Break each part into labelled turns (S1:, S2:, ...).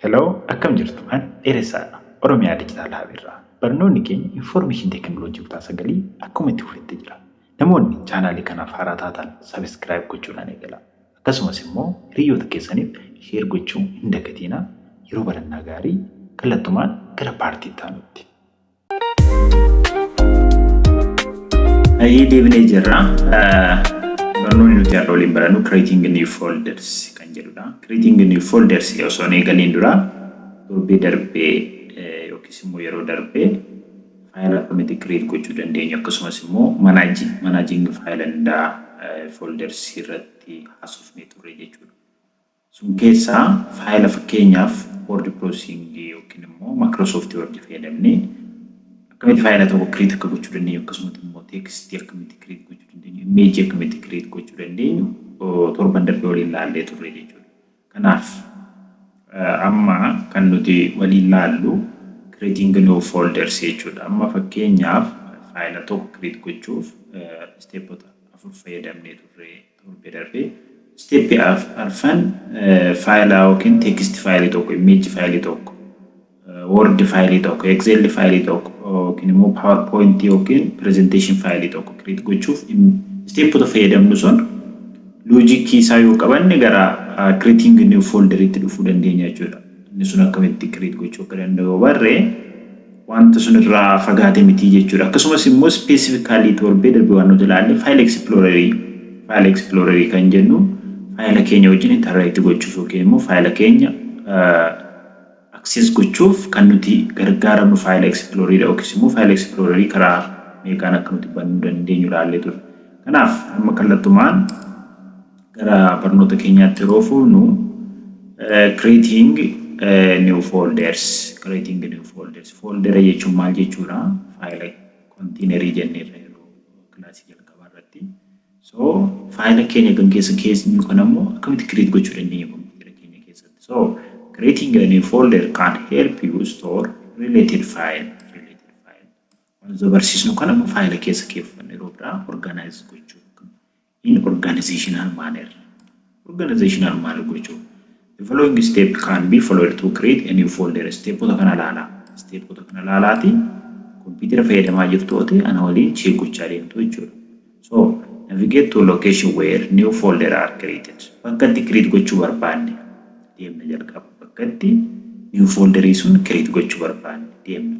S1: Hello akkam jirtu an dheeressaa dha oromiyaa digital hub irraa barnoonni keenya information technology kutaa sagalii akkuma itti fufetti jira namoonni chaanaalii kanaaf haaraa taataan subscribe gochuudhaan eegalaa akkasumas immoo hiriyyoota keessaniif share gochuu hin dagatiinaa yeroo barannaa gaarii kallattumaan gara part itti aanutti Ayyee deebinee jirra. Barnoonni nuti har'a waliin barannu creating new folders kan jedhudha. Creating new folders osoo hin eegaliin dura torbee darbee yookiis immoo yeroo darbee faayila akkamitti create gochuu dandeenyu akkasumas immoo managing managing faayila hundaa folders irratti haasofnee turre jechuudha. Sun keessaa faayila fakkeenyaaf word processing yookiin immoo Microsoft Word fayyadamnee akkamitti faayila tokko create akka gochuu dandeenyu akkasumas immoo text akkamitti create gochuu dandeenyu image akkamitti create gochuu dandeenyu torban darbe waliin laallee turre jechuudha. Kanaaf amma kan nuti waliin laallu creating new folders jechuudha. Amma fakkeenyaaf faayila tokko create gochuuf stepota afur fayyadamnee turre. torbe darbe step arfan faayilaa yookiin text faayilii tokko image faayilii tokko word faayilii tokko excel faayilii tokko yookiin immoo powerpoint yookiin presentation faayilii tokko create gochuuf stepota fayyadamnu sun loojikii isaa yoo qabanne gara creating new folder itti dhufuu dandeenya jechuudha. Inni sun akkamitti create gochuu akka danda'u barree wanta sun irraa fagaate miti jechuudha. Akkasumas immoo specifically torbee darbe waan nuti ilaalle file explorer file explorer kan jennu faayila keenya wajjin interact gochuuf yookiin immoo faayila keenya access gochuuf kan nuti gargaaramnu faayila explorer yookiis immoo faayila explorer karaa meeqaan akka nuti bannuu dandeenyu ilaallee ture. Kanaaf amma kallattumaan Gara barnoota keenyaatti yeroo fuunu creating new folders creating new folders foldera jechuun maal jechuudha faayila konteenerii jenneerra yeroo kilaasii jalqabaa irratti so faayila keenya kan keessa keessu kan ammoo akkamitti create gochuu dandeenya kompiitara keenya keessatti so creating a new folder can help you store related file related file wantoota barsiisnu kan ammoo faayila keessa keeffannu yeroo biraa organize gochuu in organizational manner organizational manner gochuu the following step can be followed to create a new folder stepota kana laalaa stepota kana laalaati kompiitara fayyadamaa jirtu yoo ta'e ana waliin cheek gochaa deemtu jechuudha so navigate to location where new folder are created bakka itti create gochuu barbaanne deemna jalqaba bakka itti new folderii sun create gochuu barbaanne deemna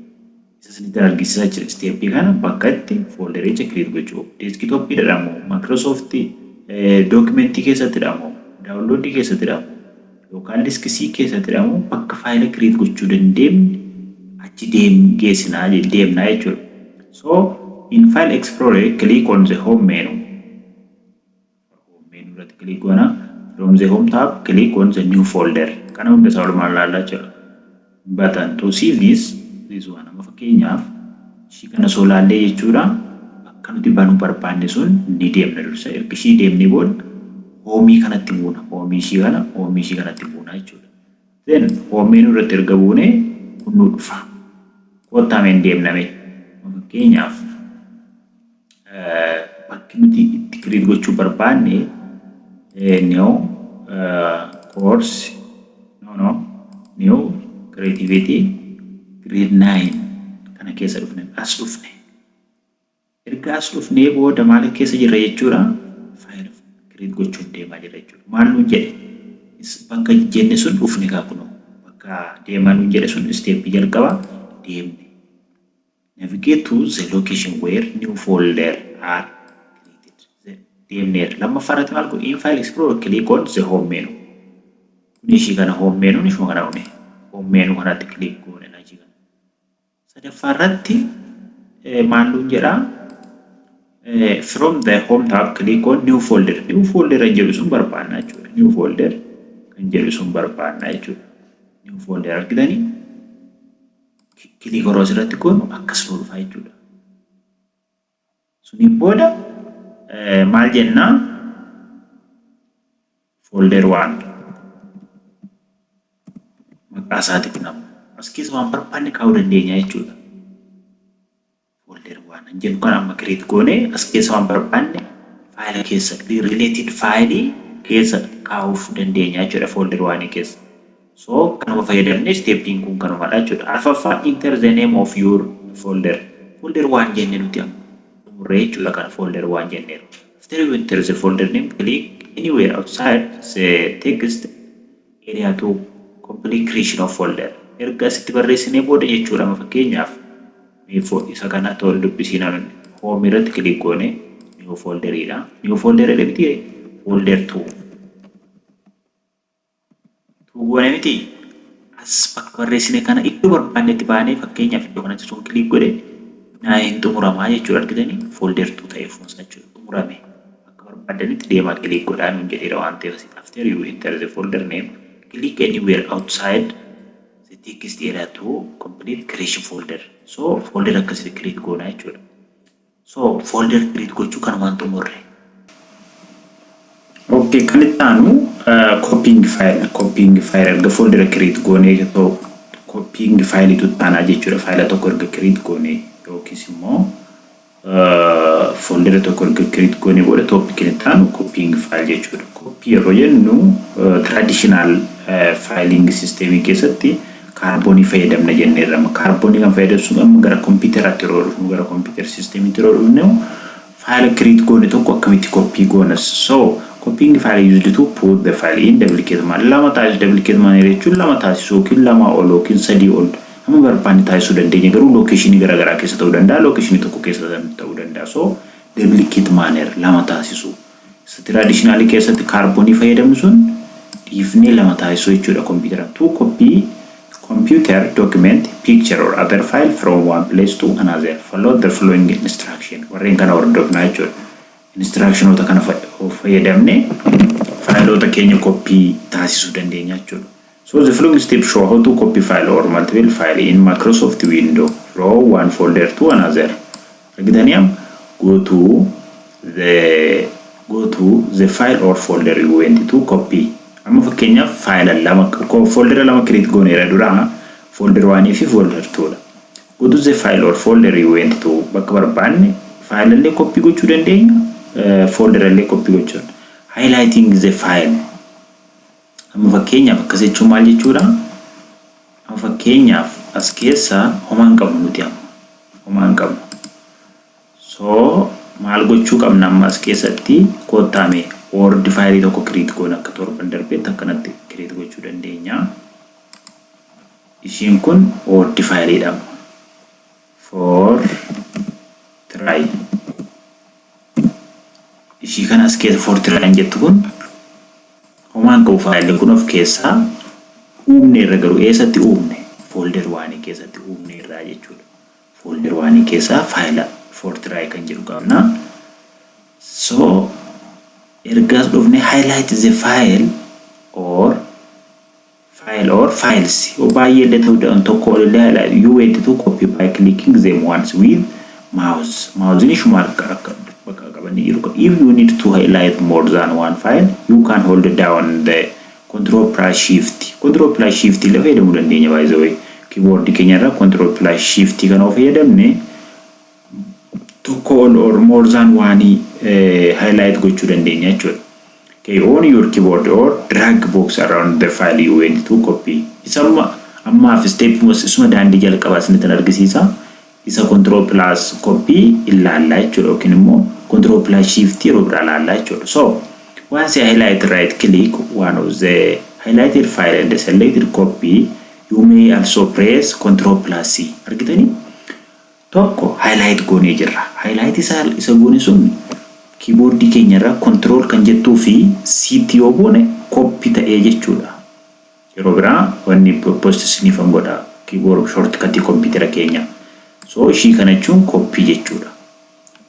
S1: Isa isinitti argisisaa jira step kana bakka itti foldericha create gochuu desktop dha moo microsoft document keessatti dha moo download keessatti dha moo local disk c keessatti dha moo bakka faayila create gochuu dandeemne achi deem geessinaa deemnaa jechuudha so in file explorer click on the home menu Our home menu irratti click goona. From the home tab, click on the new folder. Kana hunda isaa walumaan laalla jechuudha. Button to see this, this one. Amma fakkeenyaaf ishii kana soo laallee jechuudha. Akka nuti banuu barbaanne sun ni deemna dursa. Erga ishii deemnee booda hoomii kanatti buuna. Hoomii ishii kana, hoomii ishii kanatti buuna jechuudha. Then home menu irratti erga buune kun nu dhufa. Koottaa mee hin deemna mee. Fakkeenyaaf bakki nuti itti create gochuu barbaanne new course no no new creativity grade 9 kana keessa dhufne as dhufne Erga as dhufnee booda maal akka keessa jirra jechuudha file create gochuuf deemaa jirra jechuudha maal nuun jedhe is bakka jenne sun dhufne kaa kunoo bakka deemaa nuun jedhe sun step jalqaba deemne navigate to the location where new folder are created deemneerra lammaffaa irratti maal godhe in file explorer click on the home menu kun ishii kana home menu ishuma kana dhufne home menu kanatti click goone lachii kana Sadaffaa irratti maal nuun jedha? From the home tab click on new folder. New folder kan jedhu sun barbaanna jechuudha. New folder kan jedhu sun barbaanna jechuudha. New folder argitanii click yeroo asirratti goonu akkas nu dhufa jechuudha. Suniin booda maal jenna? Folder 1 maqaa isaatiif nama. As keessa waan barbaanne kaa'uu dandeenya jechuudha. Folder 1 hin jennu kan amma create goone as keessa waan barbaanne faayila keessa related faayilii keessa kaa'uuf dandeenya jechuudha folder 1 keessa. So kanuma fayyadamne stepn kun kanumadha jechuudha. Arfaffaa enter the name of your folder folder waan jenne nuti amma xumurree jechuudha kana folder waan jenneeru. After you enter the folder name click anywhere outside the text area to complete creation of folder erga asitti barreessinee booda jechuudha amma fakkeenyaaf miifoo isa kana tool dubbisiin amin home irratti click goone new folder dha new folder jedhe miti folder 2 Utuu goone miti as bakka barreessine kana iddoo barbaannetti baanee fakkeenyaaf iddoo kanatti tun kiliik godhe naa hin xumuramaa jechuudha argitanii folder tuu ta'e fuunsaa jechuudha xumurame bakka barbaaddanitti deemaa kiliik godhaa nuun jedheera waan ta'eef asitti after you enter the folder name click anywhere outside the text area to complete creation folder so folder akkasitti create goonaa jechuudha. So folder create gochuu kanumaan xumurre. Okay, kan itti aanu copying file copying file erga folder create goonee tokko copying file tu itti aanaa jechuudha. Faayila tokko erga create goonee yookiis immoo folder tokko erga create goonee booda topic itti aanu copying file jechuudha. Copy yeroo jennu traditional filing system keessatti Kaarboonii fayyadamna jenneerra. Amma kaarboonii kan fayyadamnu sun amma gara kompiiteraatti yeroo dhufnu gara kompiitera siistemiitti yeroo dhufnu faayila kiriit goone tokko akkamitti koppii goonas. So copying file used to put the file in duplicate man lama taasisu duplicate man jechuun lama taasisu yookiin lamaa ol yookiin sadii ol amma barbaanne taasisuu dandeenya garuu lookeeshinii garaa garaa keessa ta'uu danda'a lookeeshinii tokko keessa ta'uu danda'a so duplicate manner lama taasisu. Tiraadishinaalii keessatti kaarboonii fayyadamu sun dhiifnee lama taasisuu jechuudha kompiitara. To copy computer document, picture or other file from one place to another, follow the following instruction. Warreen kana hordofnaa jechuudha. Instructionoota kana fayyadamne faayiloota keenya koppii taasisuu dandeenya jechuudha. So the following step show how to copy file or multiple file in Microsoft window from one folder to another. Argitaniam Go to the Go to the file or folder you went to copy Amma fakkeenyaaf faayila lama foldera lama create gooneera dura folder 1 fi folder 2 dha. Go to the file or folder you went to bakka barbaanne faayilallee copy gochuu dandeenya folderallee copy gochuun highlighting the file Amma fakkeenyaaf akkas jechuun maal jechuudha? Amma fakkeenyaaf as keessa homaa hin qabnu nuti amma. Homaa hin qabnu. So maal gochuu qabna amma as keessatti koottaa mee word faayilii tokko create goona akka torban darbeetti akkanatti create gochuu dandeenya. Ishiin kun word faayiliidha amma. for try ishii kan as keessa for try hin jettu kun homaan qabu faayilli kun of keessaa uumne irra garuu eessatti uumne foolder waanii keessatti uumne irraa jechuudha foolder waanii keessaa faayila for try kan jedhu qabna so ergaas dhufne highlight the file or file or files yoo baay'ee illee ta'uu danda'an tokko ol illee haa yoo weedditu copy by clicking them once with mouse maawuziin ishuma harka akka bakka qabanne jiru ka if you need to highlight more than one file you can hold down the control plus shift control plus shift illee fayyadamuu dandeenya by the way keyboard keenya irra control plus shift kana yoo fayyadamne tokko ol or more than one highlight gochuu dandeenya jechuudha. Okay, on your keyboard or drag box around the file you want to copy. Isa amma ammaaf step mos isuma daandii jalqabaa isinitti argisiisa. Isa control plus copy ilaallaa jechuudha yookiin immoo control plus shift yeroo biraa ilaallaa jechuudha. So once I highlight right click one of the highlighted file and selected copy you may also press control plus C. Argitanii? tokko highlight goonee jirra. Highlight isaa isa goone sun keyboard keenya irraa control kan jettuu fi siitti yoo goone copy ta'ee jechuudha. Yeroo biraa wanni post isiniifan godha keyboard shortcut computer keenya. So ishii kana jechuun copy jechuudha.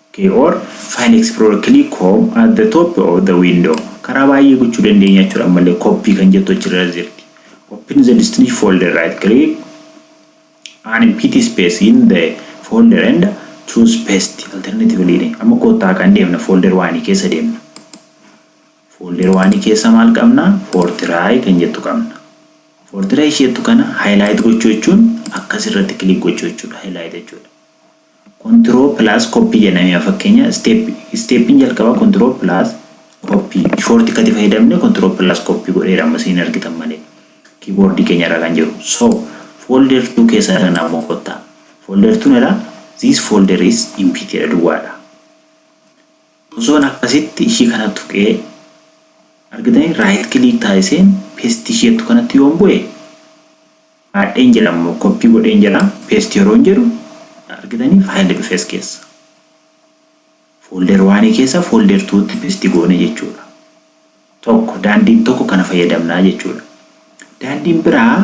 S1: Okay, or file explorer click home at the top of the window. Karaa baay'ee gochuu dandeenya jechuudha ammallee copy kan jettu achirra jirti. Open the destination folder right click An empty space in the folder and choose paste alternatively jedhe. Amma koottaa kan deemna folder waanii keessa deemna. Folder waanii keessa maal qabna? Fortiraay kan jettu qabna. Fortiraay isheettu kana highlight gochuu jechuun akkas irratti click gochuu jechuudha. Highlight jechuudha. Control plus copy jedhame fakkeenya step stepin jalqaba control plus copy short kati fayyadamne control plus copy godheera amma siin argitan malee keyboard keenya irra kan jiru so folder 2 keessa irra namoo kotta folder 2 irra this folder is empty jedha duwwaadha osoon akkasitti ishii kana tuqee argitanii right click taasiseen paste ishee jettu kanatti yoon bu'e Kaadheen jira ammoo copy godheen jira paste yeroon jedhu argitanii file dhufe as keessa folder waanii keessa folder tuutti paste goone jechuudha tokko daandiin tokko kana fayyadamnaa jechuudha daandiin biraa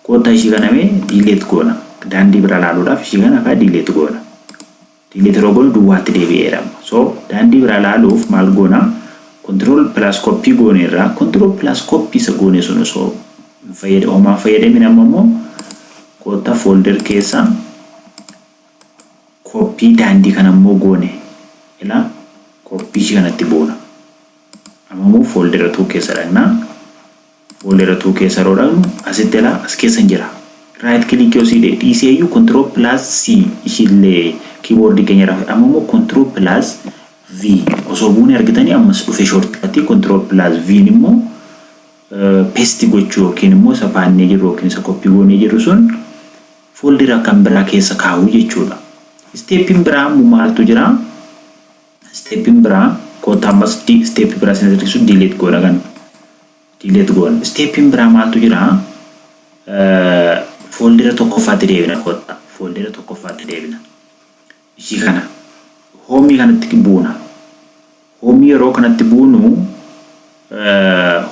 S1: koottaa ishii kana mee delete goona daandii biraa laaluudhaaf ishii kana kaa delete goona Dimitirogol duwwaatti deebi'eera. So daandii biraa ilaaluuf maal goona? Control plus copy gooneerra. Control plus copy isa goone sun osoo hin fayyada homaa hin fayyadamin amma immoo kootta folder keessa copy daandii kana immoo goone ilaa copy ishii kanatti boona. Amma immoo folder 2 keessa dhaqna. Foldera two keessa yeroo dhaqnu asitti ilaa as keessan jira. Right click yoo siidhe dhiisee iyyuu control plus C ishiillee keyboard keenya irraa amma immoo control plus V osoo buune argitanii ammas dhufe shortcut control plus V immoo paste gochuu yookiin immoo isa baannee jirru yookiin isa copy goonee jirru sun foldera kan biraa keessa kaa'uu jechuudha. Steppiin biraa immoo maaltu jira? Step'n biraa kotta ammas step biraa sin asirrisu delete goona kan delete goona step'n biraa maaltu jira fooldera tokkoffaatti deebina kotta fooldera tokkoffaatti deebina ishii kana hoomii kanatti buuna hoomii yeroo kanatti buunu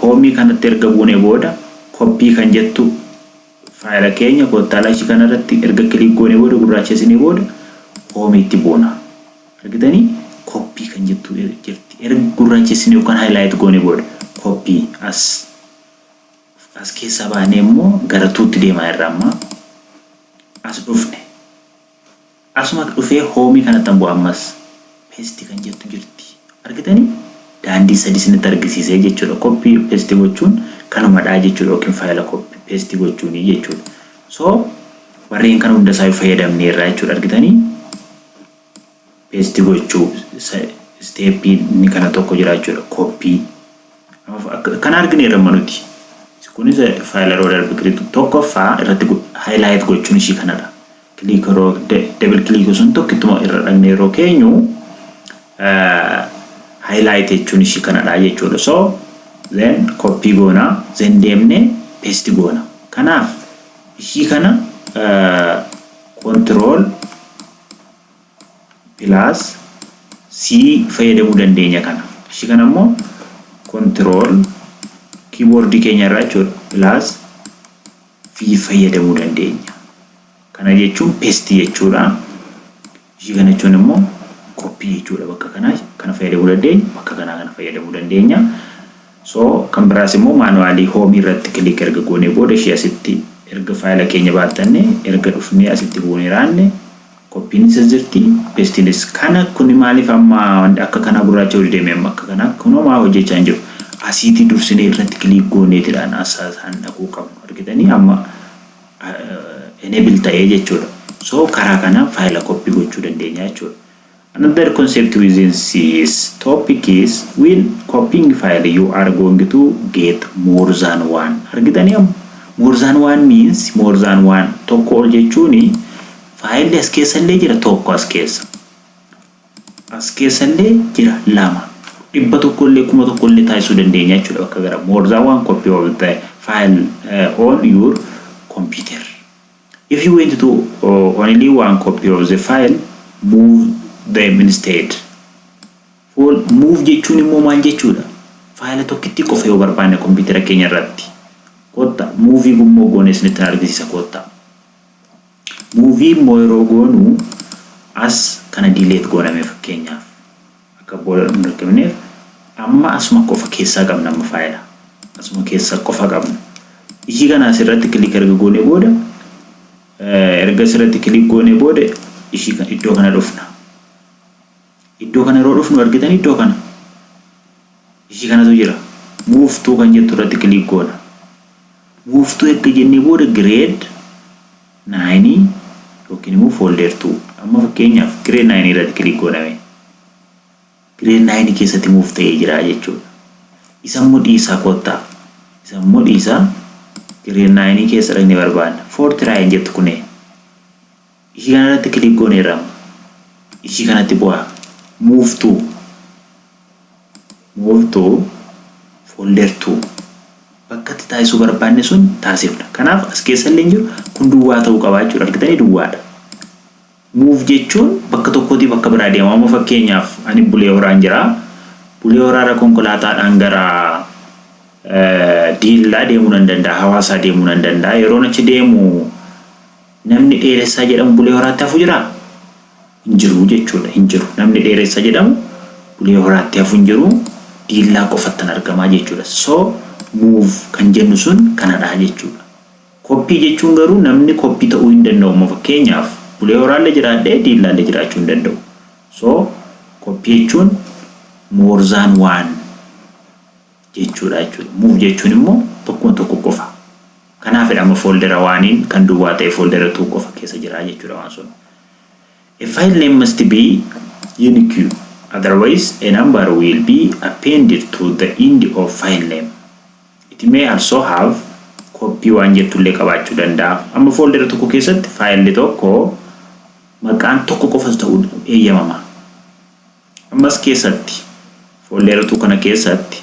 S1: hoomii kanatti erga buunee booda koppii kan jettu Faayila keenya koottaa laayisii kana irratti erga kiliik goonee booda gurraachessinee booda home itti boona. Argitanii? Copy kan jettu jirti. Erga gurraachessinee yookaan highlight goonee booda copy as as keessaa baanee immoo gara tuutti deemaa irra amma as dhufne. Asumatu dhufee home kanattan bu'a ammas paste kan jettu jirti argitani daandii sadi isinitti argisiisee jechuudha copy paste gochuun kanumadhaa jechuudha yookiin faayila copy paste gochuuni jechuudha so warreen kana hunda isaayu fayyadamneerraa jechuudha argitani Paste gochuu step inni kana tokko jira jechuudha copy kana argine irra manuti kunis file irra darbe click tokko fa irratti highlight gochuun ishii kanadha click irra double click sun tokko ittuma irra dhagne yeroo keenyu highlight jechuun ishii kanadha jechuudha so then copy goona then deemne paste goona kanaaf ishii kana control plus C fayyadamuu dandeenya kana. Ishii kana immoo control keyboard keenya irraa jechuudha plus V fayyadamuu dandeenya. Kana jechuun paste jechuudha. Ishii kana jechuun immoo copy jechuudha bakka kanaa kana fayyadamuu dandeenya bakka kanaa kana fayyadamuu dandeenya. So kan biraas immoo maanuwaalii hoomii irratti kiliik erga goonee booda ishii asitti erga faayila keenya baattanne erga dhufnee asitti buunee raanne Qophiin isas jirti istilis. Kana kuni maaliif amma akka kanaa gurraacha oli deeme amma akka kanaa kunoo maa hojjechaa hin jiru. Asiiti dursinee irratti click gooneetidhaan asasaan dhaquu qabnu argitanii amma enable ta'ee jechuudha. So karaa kanaan faayila copy gochuu dandeenya jechuudha. Another concept within this topic is when copying file you are going to get more than one argitanii amma more than one means more than one tokko ol jechuuni Faayilli as keessa illee jira tokko as keessa. As keessa illee jira lama. Dhibba tokko illee kuma tokko illee taasisuu dandeenya jechuudha bakka gara more than one copy of the file uh, on your computer. If you want to uh, only one copy of the file, move them instead. Full move jechuun immoo maal jechuudha? Faayila tokkittii qofa yoo barbaanne kompiitara keenya irratti. Kotta muuvii gummoo goonee isinitti argisiisa kotta. Movie immoo yeroo goonu as kana delete goona mee fakkeenyaaf akka booda hin rakkifneef amma asuma qofa keessaa qabna amma faayila asuma keessaa qofa qabna ishii kana asirratti click erga goone booda erga asirratti click goone booda ishii iddoo kana dhufna Iddoo kana yeroo dhufnu argitan iddoo kana ishii kanatu jira. Move to kan jettu irratti click goona. Move to erga jennee booda grade 9 yookiin immoo folder 2 amma fakkeenyaaf grade 9 irratti click gooname. Grade 9 keessatti move ta'ee jira jechuudha. Isa immoo dhiisaa koottaa. Isa immoo dhiisaa grade 9 keessa dhaqnee barbaanna. For try hin jettu kunee. Ishii kana irratti click gooneerra amma. Ishii kanatti bu'aa. Move to. Move to folder 2. Bakkatti taasisuu barbaanne sun taasifna. Kanaaf as keessa illee jiru kun duwwaa ta'uu qaba jechuudha. Argitanii duwwaadha. Move jechuun bakka tokkootii bakka biraa deema. Amma fakkeenyaaf ani bulee horaan jira. Bulee horaarra konkolaataadhaan gara diillaa deemuu nan danda'a. Hawaasaa deemuu nan danda'a. Yeroon achi deemu Namni Dheeressaa jedhamu Bulee Horaatti hafu jiraa? Hin jiru jechuudha. Hin jiru. Namni Dheeressa jedhamu Bulee Horaatti hafu hin jiru. Diillaa qofattan argamaa jechuudha. So, move kan jennu sun kanadha jechuudha. Koppii jechuun garuu namni koppii ta'uu hin danda'u. Amma fakkeenyaaf Bulee Horaallee jiraadhee Diillaallee jiraachuu hin danda'u. So, koppii jechuun more than one. jechuudha jechuudha. Move jechuun immoo tokkoon tokko qofa. Kanaafidha amma fooldera waaniin kan duwwaa ta'e fooldera tuu qofa keessa jira jechuudha waan sun. A file name must be unique otherwise a number will be appended to the end of file name. It may also have copy waan jettu illee qabaachuu danda'a. Amma fooldera tokko keessatti faayilli tokko maqaan tokko qofas ta'uu eeyyamama. Ammas keessatti fooldeeratuu kana keessatti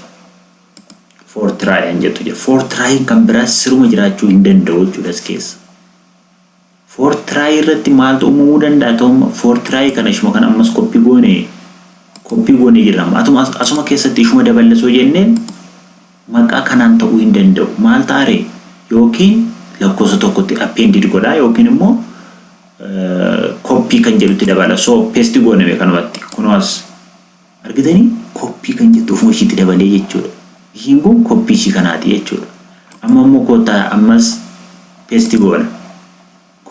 S1: for try an jettu jira. For try kan biraa siruma jiraachuu hin danda'u jechuudha as keessa. For try irratti maaltu uumamuu danda'a ta'umma for try kana ishuma kana ammas koppii goone koppii goone jirra. Atuma asuma keessatti ishuma daballasoo jenneen maqaa kanaan ta'uu hin danda'u. Maal ta'are yookiin lakkoofsa tokkotti appendid godha yookiin immoo copy kan jedhutti dabala so paste goone mee kanumatti kunoo as argitanii copy kan jettu ofuma ishiitti dabalee jechuudha ishiin kun copy ishii kanaati jechuudha amma immoo kootaa ammas paste goona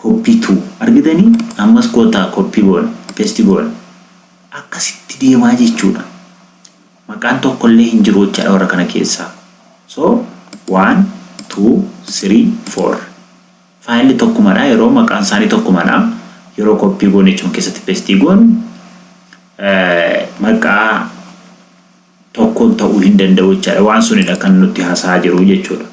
S1: copy to argitanii ammas kootaa copy goona paste goona akkasitti deemaa jechuudha maqaan tokkollee hin jiru jechaadha warra kana keessaa so 1 2 3 4 Faayilli tokkumadha yeroo maqaan isaanii tokkumadha yeroo koppii goone jechuun keessatti pestii goonu maqaa tokkoon ta'uu hin danda'u jechaadha waan sunidha kan nutti hasaa jiru jechuudha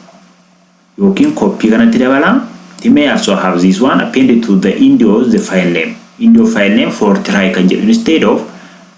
S1: yookiin koppii kanatti dabalaa they may also have this one appended to the indio the file name indio file name for try kan jedhu instead of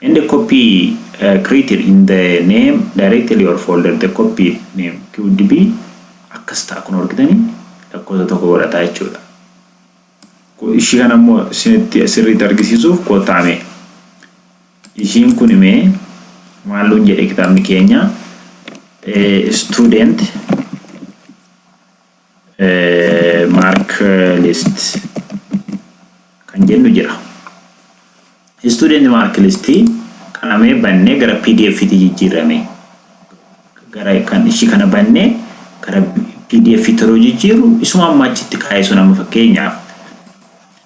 S1: End a copy created in the name directly or folder the copy name could be akkas ta'a kun argitani lakkoofsa tokko godhata jechuudha. Ishii kana immoo isinitti sirriitti argisiisuuf kottaa mee ishiin kun mee maal nuun jedhe kitaabni keenya student mark list kan jennu jira. Student mark list kana mee bannee gara pdf ti jijjiirame. Gara kan ishii kana bannee gara pdf ti yeroo jijjiiru isuma amma achitti kaa'ee sun amma fakkeenyaaf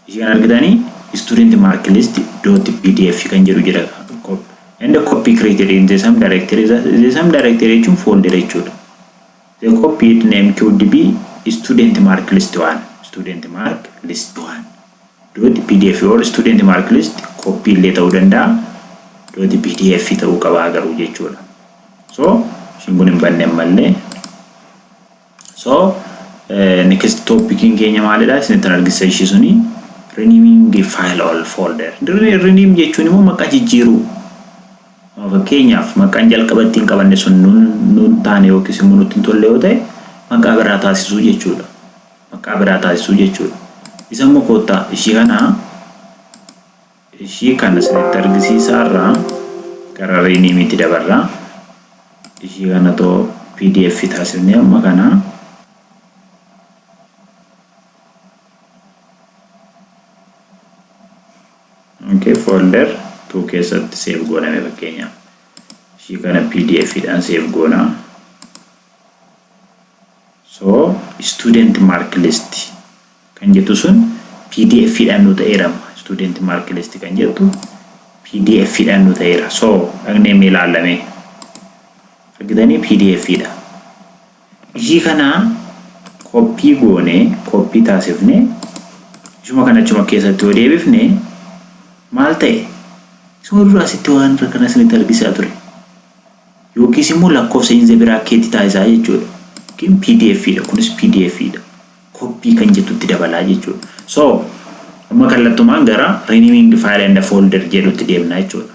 S1: ishii kan argitanii student mark list dot pdf kan jedhu jira. And copy created in the same directory. The same directory jechuun folder jechuudha. They copied name QDB student mark list 1 student mark list 1 dot pdf or student mark list copy illee ta'uu danda'a dot pdf ta'uu qabaa garuu jechuudha. So ishiin kun hin banne ammallee. So next topicin keenya maalidha isinittan argisiisa ishii suni renaming file all folder rename jechuun immoo maqaa jijjiiruu Amma fakkeenyaaf maqaan jalqaba ittiin qabanne sun nun nun taane yookiis immoo nutti hin tolle yoo ta'e maqaa biraa taasisuu jechuudha. Maqaa biraa taasisuu jechuudha. Isa immoo koottaa ishii kana ishii kana isinitti argisiisaa irraa gara riiniimiitti dabarra. Ishii kana too pdf taasifnee amma kana Okay folder two keessatti save gooname fakkeenya ishii kana pdf dhaan save goona so student mark list kan jettu sun pdf dhaan nu ta'eerama student mark list kan jettu pdf dhaan nu ta'eera so dhagnee mee ilaallamee argitanii pdf dha Ishii kana copy goone copy taasifne ishuma kana achuma keessatti yoo deebifne maal ta'e isuma dura asitti waan irra kana isinitti argisaa ture yookiis immoo lakkoofsa inze biraa keetti taasisaa jechuudha yookiin pdf dha kunis pdf dha copy kan jettutti dabalaa jechuudha so amma kallattumaan gara renaming file and folder jedhutti deemna jechuudha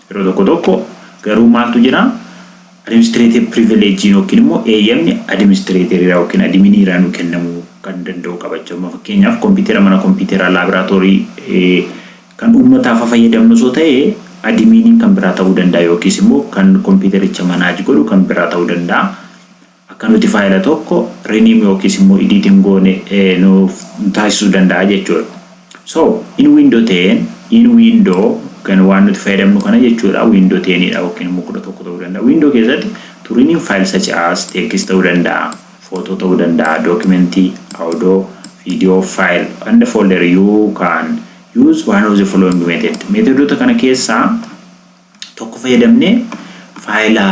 S1: Yeroo tokko tokko garuu maaltu jira? Adimistireeter pirivileejiin yookiin immoo eeyyamni adimistireeteriraa yookiin adiminiiraa nu kennamuu kan danda'u qabachuu amma fakkeenyaaf kompiitera mana kompiiteraa laaboraatoorii kan uummataaf fayyadamnu osoo ta'e adimiiniin kan biraa ta'uu danda'a yookiis immoo kan kompiitericha manaaj godhu kan biraa ta'uu danda'a. akka nuti faayila tokko rename yookiis immoo edit hin goone nuuf taasisuu danda'a jechuudha. So in window 10 in window kan waan nuti fayyadamnu kana jechuudha window 10 dha yookiin immoo 11 ta'uu danda'a. Window keessatti to rename file such as text ta'uu danda'a, photo ta'uu danda'a, document, audio, video, file and folder you can use one of the following method. Meetodoota kana keessaa tokko fayyadamnee faayila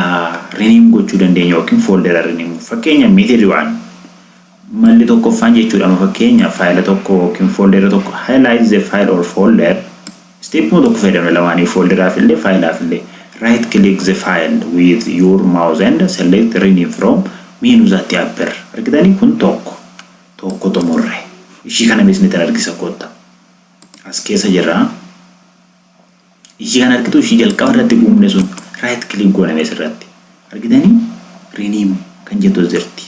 S1: rename gochuu dandeenya yookiin fooldera rename. Fakkeenya method waan malli tokkoffaan jechuudha amma fakkeenya faayila tokko yookiin fooldera tokko highlight the file or folder steepuma tokko fayyadamna lamaanii foolderaaf illee faayilaaf illee right click the file with your mouse and select rename from menu that appear argitanii kun tokko tokko xumurre ishii kana beesnitan argisa kotta as keessa jirraa Ishii kan argitu ishii jalqaba irratti uumne sun right click goona mee sirratti argitanii rename kan jettu as jirti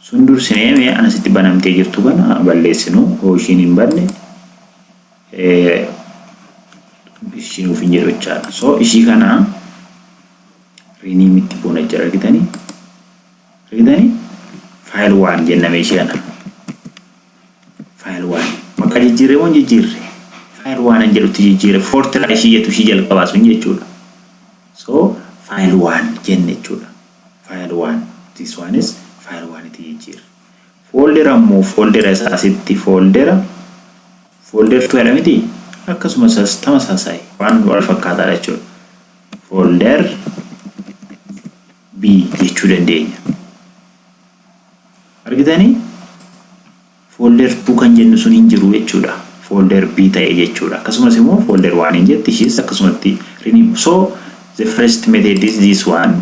S1: sun dursinee mee anasitti banamtee jirtu kana balleessinu hoo ishiin hin banne ishiin ofiin jedhu jechaadha so ishii kana rename itti goona jechaadha argitanii argitanii faayil waan jenname ishii kana File 1. Maqaa jijjiirree moo hin jijjiirre? File 1 an jedhutti jijjiire. Fortira ishii jettu ishii jalqabaa sun jechuudha. So file 1 jenne jechuudha. File 1. This one is file 1 itti jijjiirre. Foldera immoo foldera isaa asitti foldera folder 2 jedha miti akkasuma isaas tamasaasaayi waan wal fakkaataadha jechuudha. Folder B jechuu dandeenya. Argitanii? Folder 2 kan jennu sun hin jiru jechuudha. Folder B ta'e jechuudha. Akkasumas immoo folder 1 hin jetti ishiis akkasumatti rename. So the first method is this one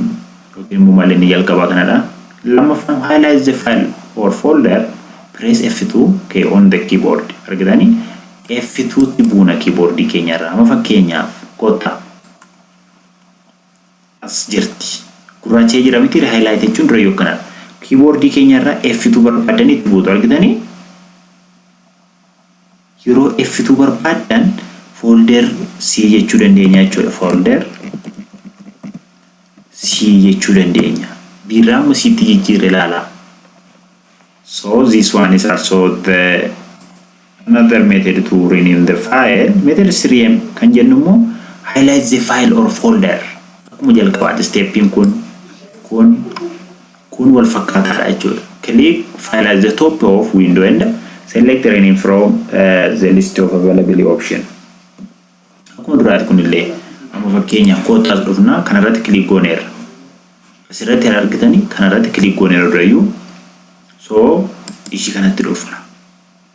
S1: yookiin immoo malli inni jalqabaa kanadha. Lammaffaan highlight the file or folder press F2 key on the keyboard. Argitanii? F2 tti buuna keyboard keenyarra. Amma fakkeenyaaf kottaa. As jirti. Gurraacha'ee jira miti ree highlight jechuun durayyuu akkanadha. Keyboard keenya irra F2 barbaaddan itti buutu argitanii? Yeroo F2 barbaaddan folder C jechuu dandeenya jechuudha. Folder C jechuu dandeenya. Biirraa amma Ctti jijjiirre ilaalaa. So this one is also the another method to rename the file. Method 3m kan jennu immoo highlight the file or folder. Akkuma jalqabaati steppiin kun kun kun wal fakkaataadha jechuudha. Click file at the top of window and select rename from uh, the list of available option. Akkuma duraati kunillee amma fakkeenyaaf koottaa as dhufnaa kanarratti kiliik gooneerra. Asirratti kan argitanii kanarratti kiliik gooneerra durayyuu. So ishii kanatti dhufna.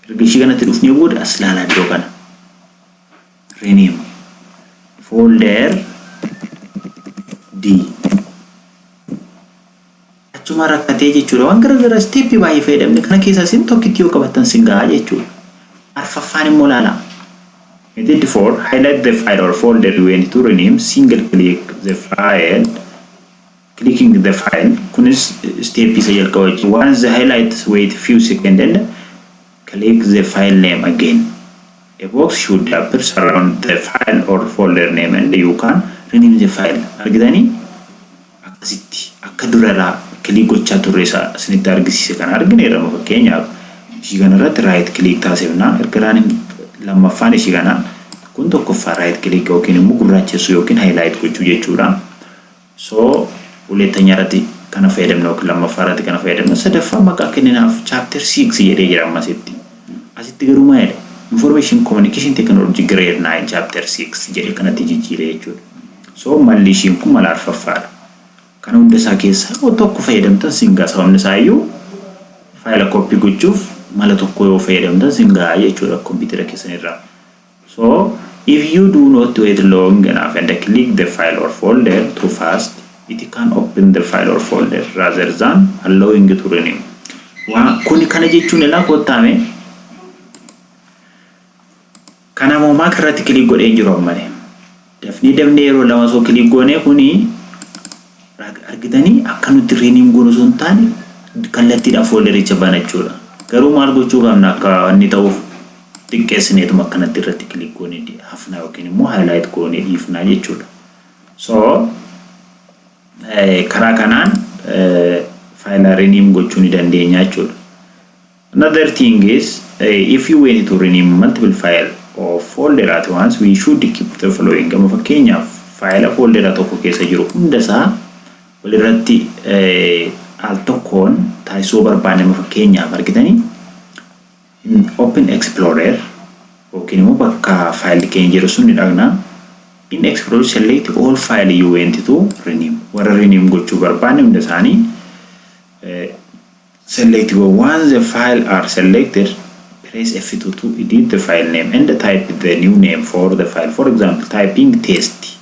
S1: Erga ishii kanatti dhufnee booda as ilaalaa iddoo kana. Rename folder D. achumaa rakkatee jechuudha. Waan gara garaa isteeppii baay'ee fayyadamne kana keessaa isin tokkitti yoo qabattan sin gahaa jechuudha. Arfaffaan immoo laalaa. Method 4 highlight the file or folder you want to rename single click the file clicking the file kunis step isa jalqaba jechuudha. Once the highlights wait few seconds and click the file name again. A box should appear around the file or folder name and you can rename the file. Argitanii? akkasitti akka duraraa click gochaa turre isa isinitti argisiise kana argineerra amma fakkeenyaaf ishii kana irratti right click taasifna erga running lammaffaan ishii kana kun tokkoffaa right click yookiin immoo gurraachessuu yookiin highlight gochuu jechuudha so hulettanya irratti kana fayyadamna yookiin lammaffaa irratti kana fayyadamna sadaffaa maqaa kenninaaf chapter 6 jedhee jira amma asitti asitti garuu maa jedha information communication technology grade 9 chapter 6 jedhe kanatti jijjiire jechuudha So malli ishiin kun mala arfaffaadha. Kana hunda isaa keessaa yoo tokko fayyadamtan sin ga'a sababni isaa iyyuu faayila copy gochuuf mala tokko yoo fayyadamtan sin ga'a jechuudha kompiitara keessan irraa. So if you do not wait long enough and click the file or folder too fast it can open the file or folder rather than allowing to renew. Waa kuni kana jechuun ilaa kottaame Kana moo mac irratti click godhee hin jiru ammale dafnee dafnee yeroo lama osoo click goonee kuni argitanii akka nutti rename goonu osoo hin taane kallattiidhaan foldericha banachuudha garuu maal gochuu qabna akka inni ta'uuf xiqqeessineetuma akkanatti irratti click goonee hafnaa yookiin immoo highlight goonee dhiifnaa jechuudha so karaa kanaan faayilaa rename gochuu ni dandeenya jechuudha Another thing is if you went to rename multiple file or folder at once we should keep the following amma fakkeenyaaf faayila fooldera tokko keessa jiru hunda isaa walirratti al tokkoon taasisuu barbaanne amma fakkeenyaaf argitanii in open explorer yookiin immoo bakka faayilli keenya jiru sun ni dhaqna in explorer select all file you went to rename warra rename gochuu barbaanne hunda isaanii Select go Once the file are selected, press F2 to edit the file name and type the new name for the file. For example, typing test.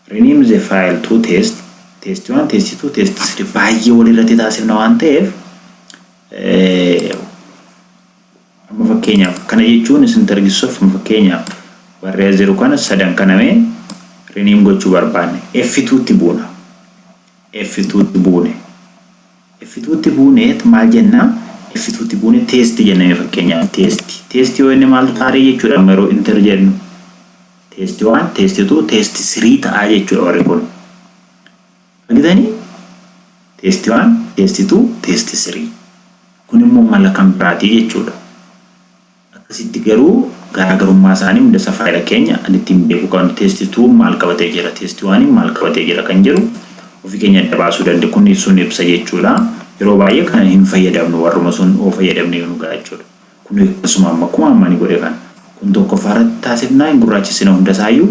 S1: Rename the file to test. Test 1, test 2, test 3 baay'ee walirratti taasifna waan ta'eef amma fakkeenyaaf kana jechuun isin targisuuf amma fakkeenyaaf barreessaa jiru kana sadan kanamee rename gochuu barbaanne F2 tti buuna. F2 tti buune. Iffituutti buuneet maal jenna? Iffituutti buune test jenna mee fakkeenyaaf test test yoo jenne maal ta'a ree jechuudha amma yeroo enter jennu test 1 test 2 test 3 ta'a jechuudha warri kun argitanii test 1 test 2 test 3 kun immoo mala kan biraatii jechuudha Akkasitti garuu garaagarummaa isaanii hundasa faayila keenya kan ittiin beekuu qabnu test two maal qabatee jira test one maal qabatee jira kan jedhu ofii keenya adda baasuu danda kun sun ibsa jechuudha yeroo baay'ee kana hin fayyadamnu warruma sun oo fayyadamne yoo nu ga'a jechuudha kun akkasuma amma akkuma amma ni godhe kan kun tokkoffaa irratti taasifnaa hin gurraachessina hundasaayyuu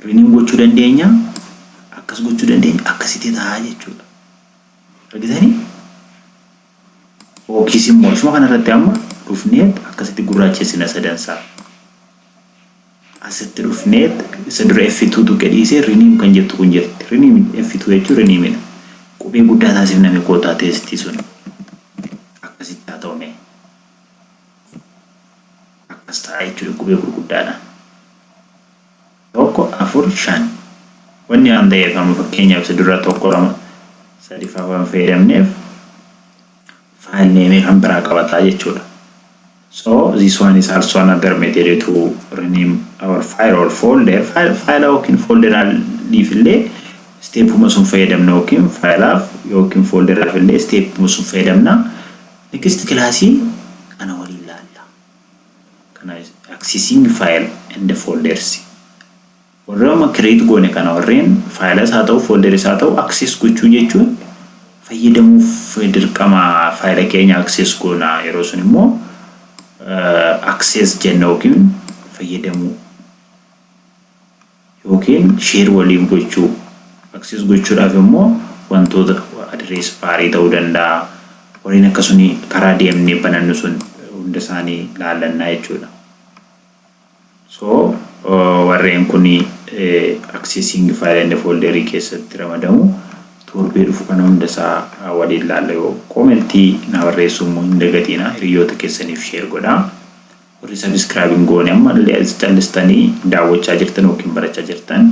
S1: riniin gochuu dandeenya akkas gochuu dandeenya akkasitti ta'a jechuudha argitanii Yookiis immoo isuma kana irratti amma dhufneet akkasitti gurraachessina sadansaa. Asitti dhufneet isa dura F2 tuqe dhiisee rename kan jettu kun jirti. Rename F2 jechuun rename dha. Qubee guddaa taasifname kootaa teestii sun. Akkasitti haa ta'u mee. Akkas ta'a jechuudha qubee gurguddaadhaan. 1, 4, 5. Wanni waan ta'eef amma fakkeenyaaf si dura 1, 2, 3 faa waan fayyadamneef file name kan biraa qabataa jechuudha. So this one is also another method to rename our file or folder. File file yookiin folderaaliif illee steepuma sun fayyadamna yookiin file'aaf yookiin folderaaf illee steepuma sun fayyadamna. Next kilaasii kana waliin laalla. kana accessing file and folders warra amma create goone kana warreen faayilas haa ta'u folderis haa ta'u access gochuu jechuun fayyadamuuf dirqama faayila keenya access goona yeroo sun immoo access jenna yookiin fayyadamuu yookiin share waliif gochuu. Access gochuudhaaf immoo wantoota address bar ta'uu danda'a. Warreen akka suni karaa deemnee banannu sun hunda isaanii laallanna jechuudha. So warreen kun accessing file and folder keessatti ramadamu. Torbee dhufu kana hunda isaa waliin laalla yoo koomentii na barreessuu immoo hin dagatiina hiriyoota keessaniif share godhaa. Warri subscribe hin goone amma illee as callistanii daawwachaa jirtan yookiin barachaa jirtan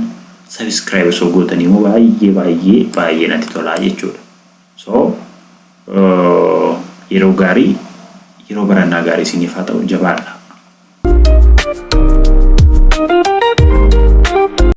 S1: subscribe osoo gootanii immoo baay'ee baay'ee baay'ee natti tolaa jechuudha. So yeroo gaarii yeroo barannaa gaarii isiniif haa ta'u jabaadha.